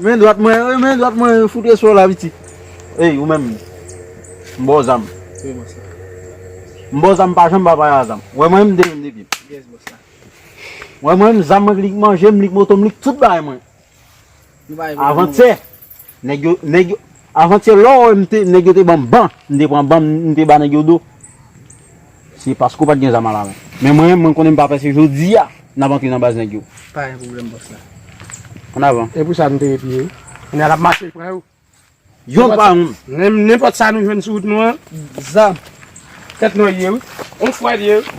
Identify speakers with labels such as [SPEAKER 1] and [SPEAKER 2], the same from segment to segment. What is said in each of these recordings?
[SPEAKER 1] Men dwat mwen yo, men dwat mwen yo, foute sou la piti. Ey, ou menm, m ba w zam. Wi, bòs
[SPEAKER 2] la. M ba w
[SPEAKER 1] zam, m pa janm ba paya zam. Ou wè mwen menm, m te menm depi m. Yes, bòs la.
[SPEAKER 2] Ou wè
[SPEAKER 1] mwen menm, zam mwen k lik manje m, lik moto m, lik tout bagay mwen. Nou pa epi nan move. Avantyè, nèg yo, nèg yo, Avantye lè w wè m te nèg yo te ban m ban m te pran ban m te ba nèg yo do se paske w pat gen zam alamen men mwen mwen konnen m pa pè se jodi a n ap antre nan baz nèg yo. Pa gen pwoblèm bòs
[SPEAKER 2] la. An avan.
[SPEAKER 1] E pou sa nou te ret li ye.
[SPEAKER 2] Kounye a l ap mache pran yo. Yon
[SPEAKER 1] pa yon. Nenpòt sa
[SPEAKER 2] nou jwenn sou wout nou an. Zam. Tèt nou an l ye wi. On fwa l ye wi.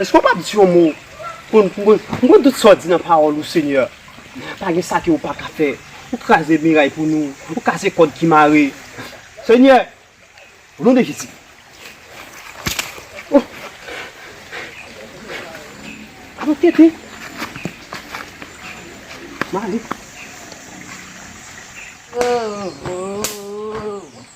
[SPEAKER 3] Eske w pap di yon mo pou n pou m konn tout sa w di nan pawòl ou Senyè. Pa gen sa ke ou pa ka fè. Ou kraze miray pou nou. Ou kase kòd ki mare. Senyè, o non de Jezi. O! A nou tete. Mare. O! O! O!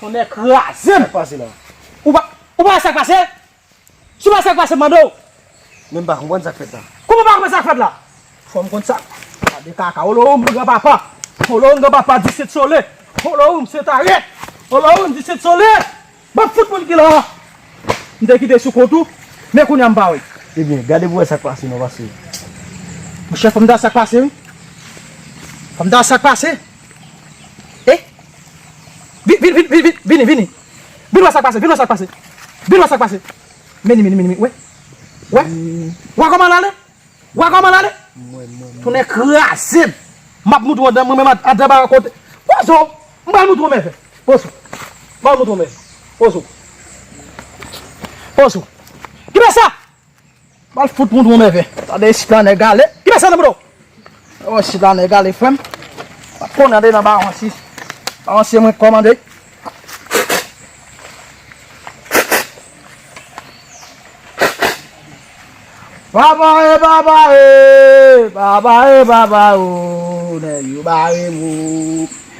[SPEAKER 2] Tonnè kraze m! Sak pase la? Ou
[SPEAKER 1] pa ou pa
[SPEAKER 2] wè sak pase? Si w pa wè sak pase m mande w? Menm pa
[SPEAKER 1] konprann sak fèt la. Kouman w pa konprann sak fèt la?
[SPEAKER 2] Fò m konn sa. Gade kaka Olowoum gran papa. Olowoum gran papa di sete sole. Olowoum sete are. Olowoum di sete sole. Banm fout moun ki la a. M te kite sou kont ou. Men kounya m pa wè. Ebyen gade pou wè sak
[SPEAKER 1] pase non paske.
[SPEAKER 2] Monchè fò m ta wè sak pase wi. Fò m ta wè sak pase. Eh Vin vin vin vin vini vini Vin wè sak pase vin wè sak pase Vin wè sak pase Meni meni meni wè Wè Wè kòman lale Wè kòman lale Tonnè krazem Map moutre w mwen menm a deba kote Pozo M pral moutre w mèvèy Pozo M pral moutre w mèvèy Pozo Pozo Kibesa Bal fout moun trou nève. Tande isit la nèg ale. Ki bèse nan boudaw? Ewa isit la nèg ale frèm. Map konnen ande nan bawon si. Bawon se mwen kòmande. Baba e baba e. Baba e baba o. Nèg yo bare mou.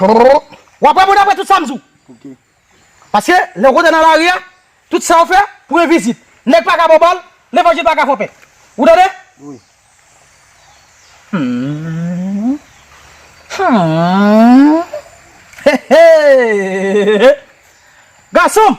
[SPEAKER 2] Ou ap reponn apre tout sa m di w.
[SPEAKER 4] Paske,
[SPEAKER 2] lè ou kontre nan lari a, tout sa ou fè, pou yon vizit. Nèg pa ka ba w bal, levanjil pa ka fè w pè. Ou tande? Gason m!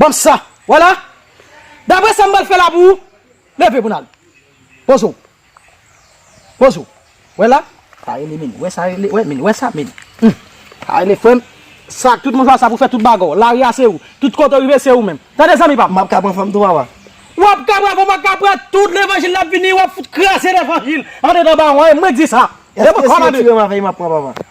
[SPEAKER 2] Ban m sa. Wè la? Dapre sa m pral fè la pou ou, leve pou n al. Poze w. Poze w. Wè la? Sa rele min. Wè sa rele, wè min. Wè sa min. Hum! Sa rele frè m. Sa ak tout moun sa sa pou fè tout bagay w. Lari a se ou. Tout kote w rive se ou menm. Tande zanmi pa m. M ap ka pran fanm tou papa?
[SPEAKER 4] W ap ka pran fanm,
[SPEAKER 2] w ap ka pran tout levanjil la ap vini, w ap fout kraze levanjil andedan bawon an e mwen k di sa. Eske si yo tire m
[SPEAKER 4] avè li m ap pran papa?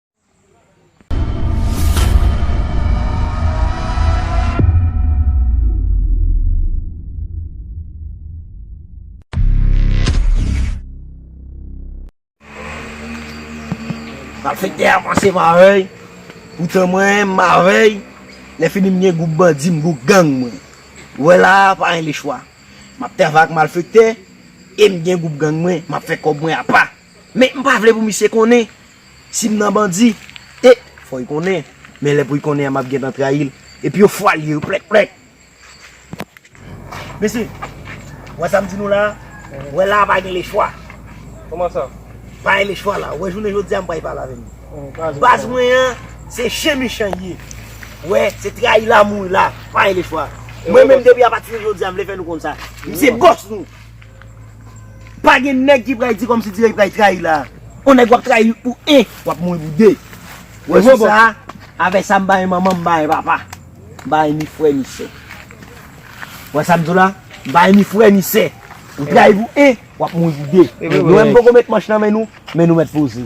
[SPEAKER 4] Malfektè a panse m avèy, poutan mwen m avèy, lèfini m gen gwoup bandi m gwoup gang mwen. Ou wè la a, pa gen lechwa. M ap travay ak malfektè e m gen gwoup gang mwen, m ap fè kòb mwen apa. Men m pa vle pou misye konnen si m nan bandi. E, fò y konnen. Men lè pou y konnen an m ap gentan trayi l. E pi yo fwa l ye yo plèk plèk. Mesye, w wè sa m di nou la a? W wè la a pa gen lechwa. Kòman sa?
[SPEAKER 3] Pa gen lechwa la
[SPEAKER 4] a. W wè jounen jodi a m pa y pale avè nou. Baz mwen an, se chen michan y ye. W wè, se trayi la a mouri la a. Pa gen lechwa. Mwen menm depi apati de jodi a m vle fè nou konn sa. M se bòs nou. Pa gen nèg ki pral di kòmsi dirèk pral trayi la. On nèg wap trayi li pou 1, wap mouri pou 2. Ou wè sou sa a, avèk sa m pa gen manman, m pa gen papa. M pa gen ni frè ni sè. Ou wè sa m di w la? M pa gen ni frè ni sè. Ou trayi pou 1, wap mouri pou 2. Nou menm m poko met manch nan men nou, men nou mèt poze.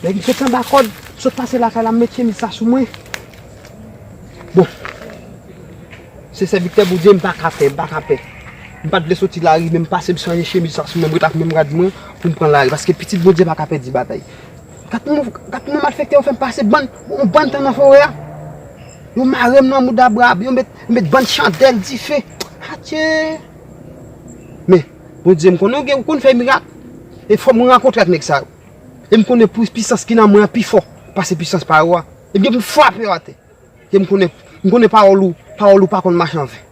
[SPEAKER 3] Nèg fèk anba kòd, sot pase lakay la met chemiz sa sou mwen. Bon. Se sèviktè Bondye m pa ka pè, m pa ka pè. M pa t vle soti lari men m pase m chanje chemiz sa sou mwen, m ret ak menm rad mwen pou m pran lari paske pitit Bondye pa ka pèdi batay. Gad kouman malfèktè yo fè m pase bann, yon bann tan nan forè a. Yo marem nan mouda brab yo met met bann chandèl dife atye men bondye m konnen ou konn fè mirak e fò mwen rankontre ak nèg sa yo e m konnen pou pisans ki nan mwen an pi fò pase pisans pa yo a e m gen frape yo atè e m konnen m konnen pawòl ou pawòl ou pa konn mache an ven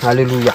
[SPEAKER 3] alelouya.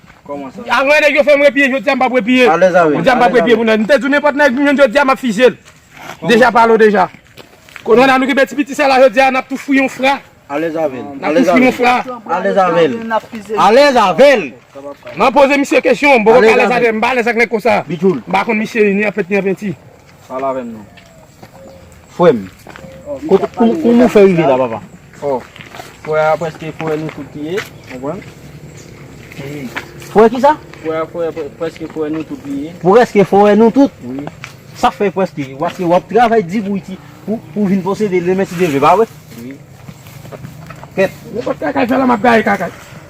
[SPEAKER 1] Anmwey nèg yo fèm repiye
[SPEAKER 2] jodia mpap repiye jodia mpap repiye
[SPEAKER 1] pou nèg mte
[SPEAKER 2] diw nenpòt nèg m jwenn jodia map fizye l deja palo deja konnen la nou genbe ti piti sa la jodia nap tou fwi yon fra nap
[SPEAKER 1] tou fwi yon fra alèz avèl man poze
[SPEAKER 2] misye kesyon mpoko alèz avèl mpa alèz ak nèg konsa mpa konn misye
[SPEAKER 1] ni an fèt
[SPEAKER 2] ni an penti. Pale avèm non.
[SPEAKER 1] Frè m. Kouman ou fè rive la papa? Oh. Frè a preske foure nou tout li ye. Konprann? Foure kisa? Frè a foure preske foure nou tout li ye. Preske foure nou tout? Wi. Sa fè preske? Paske wap travay di pou iti pou vin posede demen ti neve ba wè? Wi. Kèt. Mwen pa kaka
[SPEAKER 2] fè la map gaye kaka.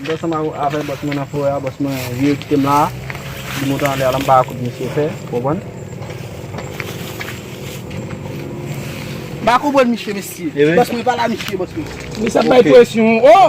[SPEAKER 2] Mte ansanm
[SPEAKER 1] avè bòs mwen nan forè a bòs mwen vire kitem la di moto anlè a la mpa wè kout misye fè ou konprann. Mpa konprann misye
[SPEAKER 2] mesye. Bòs mwen pala misye bòs mwen. Mesye sa bay presyon oh.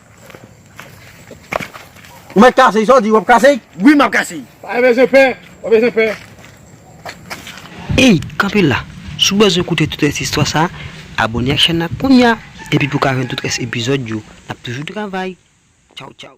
[SPEAKER 1] Ou met kase sa w di wap kase? Wi map kase. Pa
[SPEAKER 4] bezwen pè,
[SPEAKER 2] pa bezwen pè.
[SPEAKER 5] Ey kanpe la, si w bezwen koute tout rès istwa sa, abone ak chèn nan kounya epi pou w ka jwenn tout rès epizòd yo, nap toujou travay. Tchawtchaw.